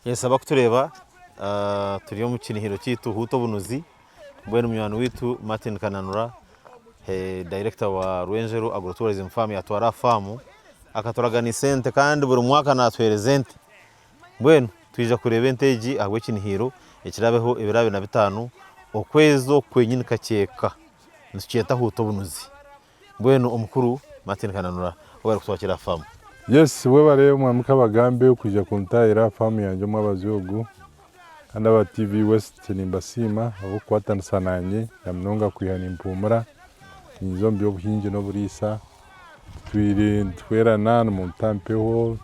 Ninsaba kutureeba turi omu kinihiro kyaitu Huuta Obunuzi mbwenu munywani waitu Martin Kananura director wa Rwenzero Agro Tourism Farm yatwara aha faamu akaturaganisa ente kandi buri mwaka naatuheereza ente. Mbwenu twija kureeba ente egi ahabw'ekinihiiro ekiraabeho ebiro abiri na bitaano okwezi oku kwenyini kakyeeka nitukyeta Huuta Obunuzi. Mbwenu omukuru Martin Kananura ou barikutwakira Fam. Yes webare mwami kabagambe okwija kuntahira aha farm yangye omwabazi ogu Kandi aba TV west nimbasiima ahabwokukwatanisa nanye namunonga kwiha nimpuumura ninyiza omu byobuhingi noburiisa titwire nituhwerana nimunta mpeho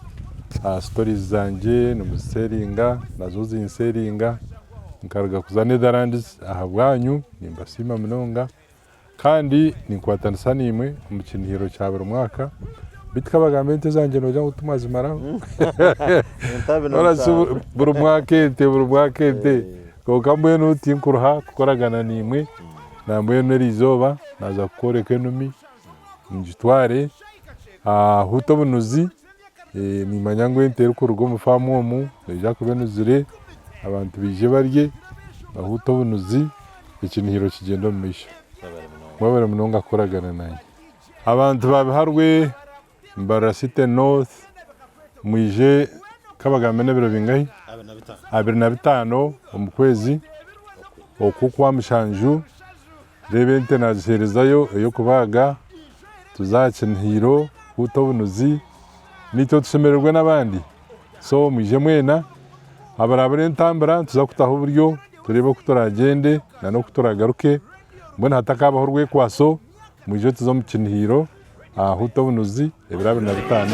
aha stories zangye nimuzisharinga nazo zinsharinga nkaruga kuza Netherlands ahabwanyu nimbasiima munonga Kandi ninkwatanisa naimwe omu kinihiiriro kya buri mwaka. Beitu ka bagambe ente zangye noogira ngu timwazimaraho. Buri mwaka ente, buri mwaka ente. Kwonka mbwenu tinkuruha kukoragana naimwe, nambwenu eri izooba naaza kukworeka enumi, ngitware aha Huuta Obunuzi. nimanya ngu ente erikuruga omu faamu omu neija kuba enuzire, abantu baije barye bahuute obunuzi, ekinihiro kigyende omu maisho. Mwebare munonga kukoragana nanye. Abantu ba Biharwe, Mbarara City North, mwije kabagambe n'ebiro bingahi? Abiri na bitaano omu kwezi oku okwa mushanju. Reeba ente naagiheerezayo ey'okubaaga, tuze aha kinihiiro kuuta obunuzi, naitwe tushemererwe n'abandi. So mwije mwena, abarabura entambura nituza kutaho buryo tureebe oku turaagyende nana oku turaagaruke, mbwenu hatakaabaho orwekwaso, mwije tuze omu kinihiiro aha huuta obunuzi ebiro abiri na bitaano.